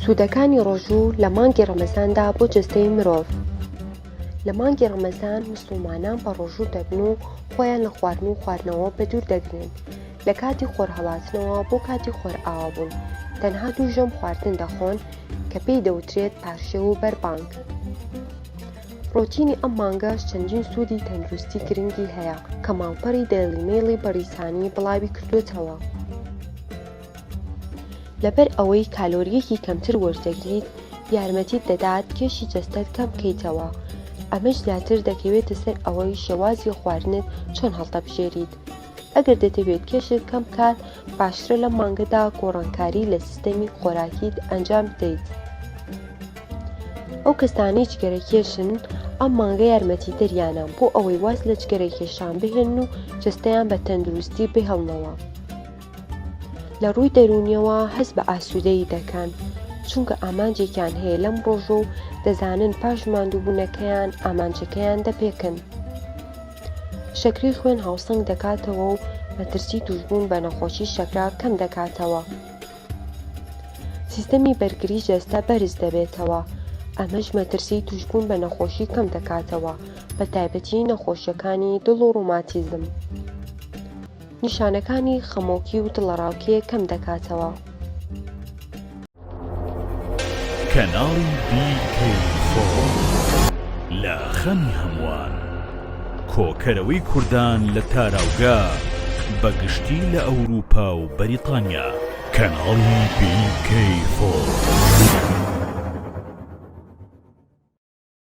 سوودەکانی ڕۆژوو لە مانگی ڕەمەزاندا بۆ جەستەی مرۆڤ لە مانگی ڕەمەزان مسلمانان بە ڕۆژوو دەبن و خۆیان لە خواردن و خواردنەوە بە دوور دەگرن لە کاتی خۆرهڵاتنەوە بۆ کاتی خۆرئاوا بوون تەنها دوو ژەم خواردن دەخۆن کە پێی دەوترێت پارشێو و بەربانگ ڕۆتینی ئەم مانگەش چەندین سوودی تەندروستی گرنگی هەیە کە ماڵپەڕی دەیڵیمەیڵی بەریتانی بڵاوی کردوێتەوە. لەبەر ئەوەی کالۆرییەکی کەمتر وەرتدەگریت یارمەتیت دەدات کێشی جەستەت کەم بکەیتەوە، ئەمەش زیاتر دەکەوێتە سەر ئەوەی شێوازی خواردنت چۆن هەڵدەبژێریت. ئەگەر دەتەوێت کێشت کەم بکات، باشترە لەم مانگەدا گۆڕانکاری لە سیستەمی خۆراکیت ئەنجام بدەیت. ئەو کەسانەی جگەرەکێشن ئەم مانگە یارمەتیدەریانە بۆ ئەوەی واز لە جگەرەکێشان بهێنن و جەستەیان بە تەندروستی بهێڵنەوە. لە ڕووی دەروونیەوە هەست بە ئاسوودەیی دەکەن، چونکە ئامانجێکیان هەیە لەم ڕۆژە و دەزانن پاش ماندووبوونەکەیان ئامانجەکەیان دەپێکن. شەکرەی خوێن هاوسەنگ دەکاتەوە و مەترسی تووشبوون بە نەخۆشی شەکرە کەم دەکاتەوە. سیستەمی بەرگری جەستە بەرز دەبێتەوە، ئەمەش مەترسی تووشبوون بە نەخۆشی کەم دەکاتەوە، بە تایبەتی نەخۆشیەکانی دڵ و ڕۆماتیزم. نیشانەکانی خەمۆکی و دڵەڕاوکێ کەم دەکاتەوە. کەناڵی BK4 لە خەمی هەمووان. کۆکەرەوەی کوردان لە تاراوگە بە گشتی لە ئەوروپا و بەریتانیا. کەناڵی BK4.